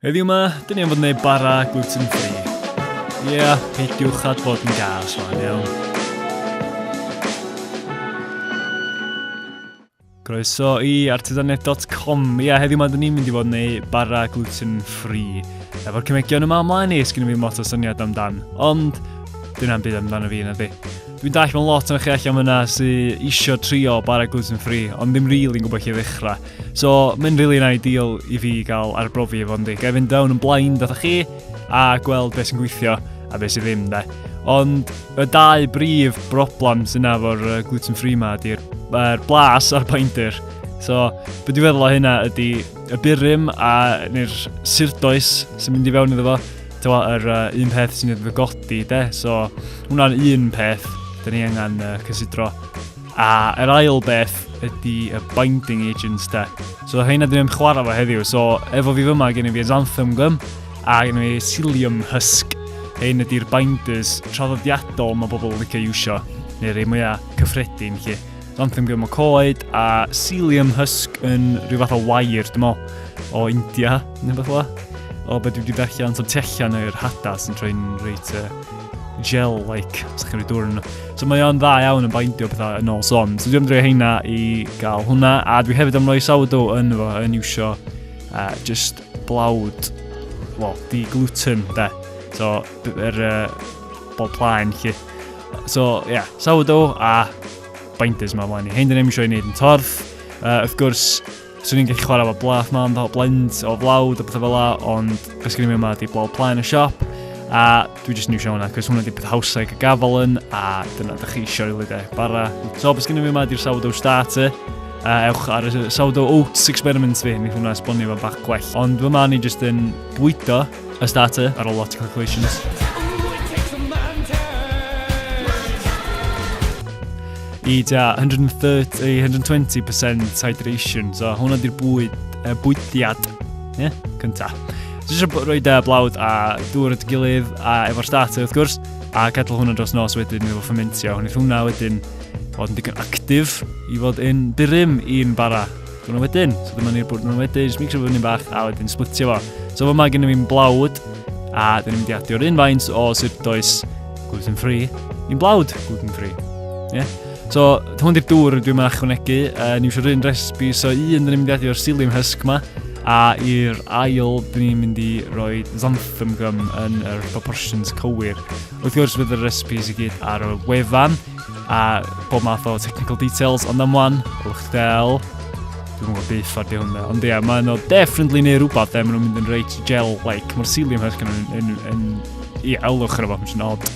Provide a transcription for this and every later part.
Heddiw ma, dyn ni am fod yn ei bara gluten free. Ie, yeah, peidiwch at fod yn gas fan iawn. Croeso i artisanet.com. Ie, yeah, heddiw ma, dyn ni'n mynd i fod yn ei bara gluten free. Efo'r cymegion yma ymlaen i, sgyn i fi mot o syniad amdan. Ond, dyna'n byd amdano fi yna di. Dwi'n dall mewn lot o'n chi allan fyna sy'n eisiau trio bara gluten free, ond ddim rili'n really gwybod lle ddechrau. So, mae'n rili yn ideal i fi gael arbrofi efo yndi. Gael fynd down yn blaen dda chi a gweld beth sy'n gweithio a beth sy'n ddim de. Ond y dau brif broblem sy'n yna efo'r gluten free ma ydy'r er blas a'r binder. So, beth dwi'n feddwl o hynna ydy y burum a neu'r surdoes sy'n mynd i fewn iddo fo. Tewa, yr uh, un peth sy'n ei ddygodi de. So, hwnna'n un peth dyn ni angen uh, cysidro. A yr ail beth ydy y binding agents de. So hyn ydym yn chwarae fo heddiw. So efo fi fyma gen i fi Xanthum Gum a gen i Cilium Husk. Hyn ydy'r binders traddodiadol mae bobl yn licio iwsio, neu rei mwyaf cyffredin chi. Xanthum Gum o coed a Cilium Husk yn rhyw fath o wair, dim o, o India, neu beth o. O beth dwi wedi darllen, so tu allan yr hada sy'n troi'n reit uh, gel-like, os chi'n rhoi dŵr yn So mae o'n dda iawn yn baindio pethau yn ôl son. So dwi'n dreulio heina i gael hwnna, a dwi hefyd am roi sourdough yn fo, yn iwsio uh, just blawd, well, di gluten, de. So, yr er, uh, bol plaen, chi. So, ie, yeah, sourdough a binders yma flaen i. Hein dyn ni'n eisiau ei wneud yn torth. Uh, wrth gwrs, Swn i'n gallu chwarae efo blaf mam fel blend o flawd a pethau fel la, ond beth sgyn i mi yma di blawd plaen y siop. A dwi jyst yn iwsio hwnna, cos hwnna di peth hawsa i cael gafel yn, a dyna ydych chi eisiau rili de, bara. So, beth sgyn i mi yma di'r sourdough starter. A ewch ar y sourdough oats experiment fi, mi hwnna esbonio fan bach gwell. Ond fy ma ni jyst yn bwydo A starter ar ôl lot o calculations. I tua 130, 120% hydration, so hwnna di'r bwyd, uh, bwydiad, ie, yeah, cynta. Jyst eisiau rhoi da blawd a dŵr at gilydd a efo'r starter wrth gwrs, a gadw hwnna dros nos wedyn i fo ffomentio. Hwnnw hwnna wedyn fod yn digon actif i fod yn dyrym i'n bara Dyna wedyn, so dyma ni'r bwrdd yna wedyn, jyst mixio fo fyny'n bach a wedyn splitio fo. So fo yma gennym fi'n blawd, a dyn ni'n mynd i adio'r un faint o sydd does gluten free i'n blawd gluten free. Ie? Yeah? So, hwn di'r dŵr dwi'n mynd achwanegu, uh, ni'n siwr un recipe, so un dyn ni'n mynd i adio'r psyllium husk ma, a i'r ail dyn ni'n mynd i roi xanthan gum yn yr proportions cywir. Wrth gwrs bydd y recipes i gyd ar y wefan, a bob math o technical details, ond am wan, ylwch chi del, dwi'n gwybod beth ffordd i hwnna, ond ie, mae nhw definitely neu rhywbeth, e, maen nhw'n mynd yn reit gel-like, mae'r cilium hyrch yn, yn, yn, i elwch ar y fath, mae'n odd.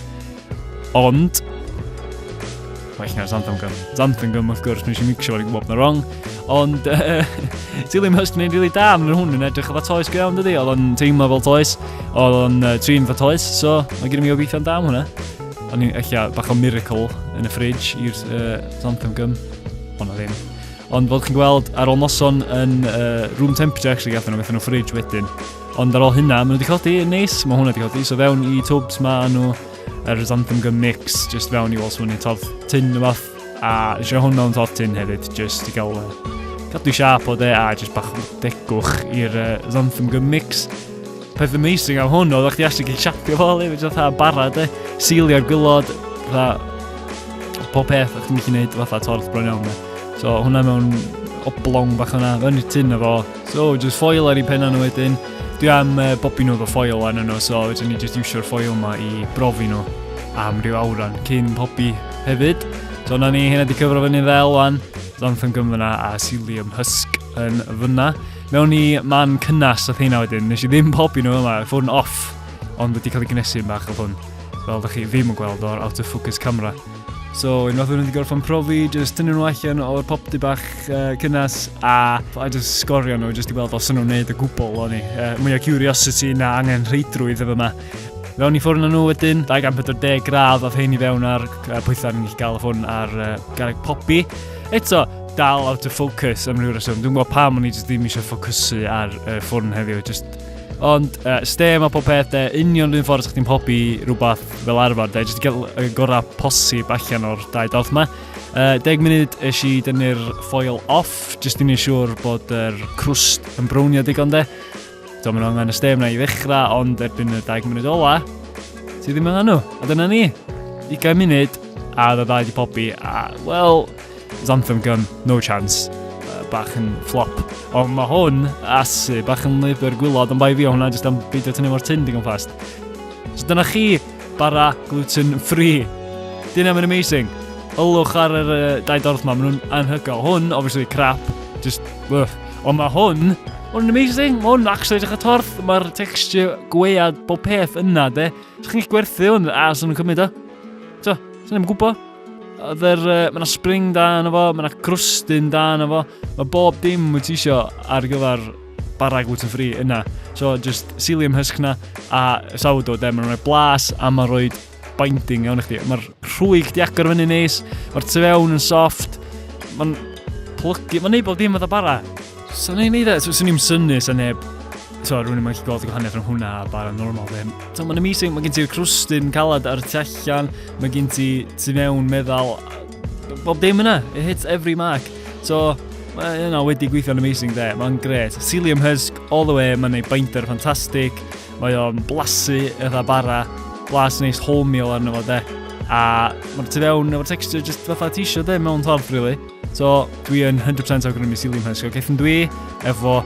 Ond, well na Xanthan Gum. Xanthan Gum, wrth gwrs, nes i mixio fo'n gwybod na wrong. Ond, uh, Dillium Hust yn ei rili da, mae'n hwn yn edrych efo toes go iawn, dydy? Oedd o'n teimlo fel toes, oedd o'n uh, trin fel toes, so mae gen i mi obeithio'n da am hwnna. O'n i'n eich bach o miracle yn y fridge i'r uh, Zontham Gym. Ond o ddim. Ond fel chi'n gweld, ar ôl noson yn uh, room temperature, actually, gathen nhw, gathen nhw fridge wedyn. Ond ar ôl hynna, maen nhw wedi codi yn neis, mae hwnna wedi codi. So fewn i tubs ma nhw, yr Zontham Gym mix, just fewn i wall swynnu, todd tin o fath. A eisiau hwn mewn todd tin hefyd, just i gael uh, cadw siap o de a just bach o degwch i'r uh, Zontham Gym mix. Peth amazing am hwn oedd o'ch di actually gallu siapio fo le, fe fatha bara de, seilio'r gwylod, fatha pob peth o'ch ti'n gallu gwneud fatha torth bron iawn de. So hwnna mewn oblong bach yna, fewn i'r tyn efo. So just foil ar ei penna nhw wedyn. Dwi am uh, bobi nhw efo foil arno nhw, so wedyn ni just iwsio'r foil yma i brofi nhw am ryw awran cyn pobi hefyd. So na ni, hynna di cyfro fyny fel wan, Lantham Gymfyna a Cilium Husk. yn fyna. Mewn i man cynnas oedd hynna wedyn. Nes i ddim pobi nhw yma, ffôn off. Ond wedi cael ei gnesu bach o hwn. Fel ydych chi ddim yn gweld o'r out of focus camera. So, unwaith o'n wedi gorfod profi, jyst tynnu nhw allan o'r popty bach uh, cynnas a, a jyst sgorio nhw, jyst i weld os o'n nhw'n neud y gwbl o'n i. Uh, mwy o curiosity na angen rheidrwydd efo yma. Fewn i ffwrn nhw wedyn, 240 gradd oedd hyn i fewn ar pwythau ni'n gallu gael y ffwrn ar uh, garreg popi. Eto, dal out of focus am ryw reswm. Dwi'n gwybod pam o'n i jyst ddim eisiau ffocysu ar uh, ffwrn heddiw. Just... Ond uh, stem a pob peth, de, union rhywun ffordd chdi'n hobi rhywbeth fel arfer, de, jyst gael y gorau posib allan o'r dau dorth yma. Uh, deg munud eis i dynnu'r ffoil off, jyst i'n siŵr bod yr crwst yn brownio digon de. Dwi'n mynd angen y stem na i ddechrau, ond erbyn y 20 munud ola, ti ddim angen nhw. A dyna ni, 20 munud, a dda dda i pobi, a, wel, Xanthem Gun, no chance bach yn flop. Ond mae hwn, asu, bach yn lyfr gwylod, ond bai fi o hwnna, jyst am beidio tynnu mor tyn digon fast. So dyna chi Bara gluten free. Dyna mae'n amazing. Ylwch ar yr uh, dau dorth ma, maen nhw'n anhygoel. Hwn, obviously, crap. Just, uh. Ond mae hwn, hwn amazing. Mae hwn actually edrych y torth. Mae'r texture gwead bob peth yna, de. Sa'ch chi'n gwerthu hwn, a sy'n nhw'n cymryd o. So, sy'n nhw'n gwybod. Dder, uh, mae yna spring da yna fo, mae yna crwstyn da yna fo. Mae bob dim wyt ti isio ar gyfer bara gluten free yna. So just psyllium husk na a sourdough de, mae'n rhoi blas a mae'n rhoi binding iawn i chdi. Mae'r rhwyg di agor fyny neis, mae'r tu fewn yn soft, mae'n plygu, mae'n neud bod dim fatha bara. So ni'n neud e, so sy'n ni'n syni sy'n neb, so rwy'n i'n mynd gweld y gwahaniaeth rhwng hwnna a bara normal ddim. So mae'n amazing, mae gen ti'r crwstyn calad ar tu allan, mae gen ti tu mewn meddal, Bob dim yna, it hits every mark. So, mae yna wedi gweithio'n amazing de, mae'n gret. Cilium Husk, all the way, mae'n ei binder ffantastig, mae o'n blasu eitha bara, blas neis wholemeal arno fo de. A mae'r tu fewn efo'r texture just fatha ti eisiau de mewn ffordd, really. So, dwi yn 100% awgrymu Cilium Husk. Gaeth yn dwi efo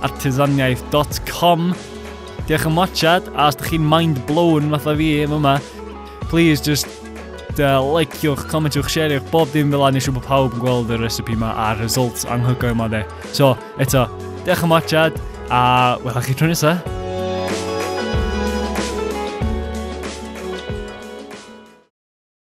artisaniaeth.com. Diolch yn mochad, a os ydych chi'n mind blown fatha fi yma, Please, just uh, likewch, commentwch, share'ch, bob dim fel annis siw bod pawb yn gweld y recipe yma a'r results anhygoel yma de. So, eto, diolch am watchad, a welwch chi tro nesaf.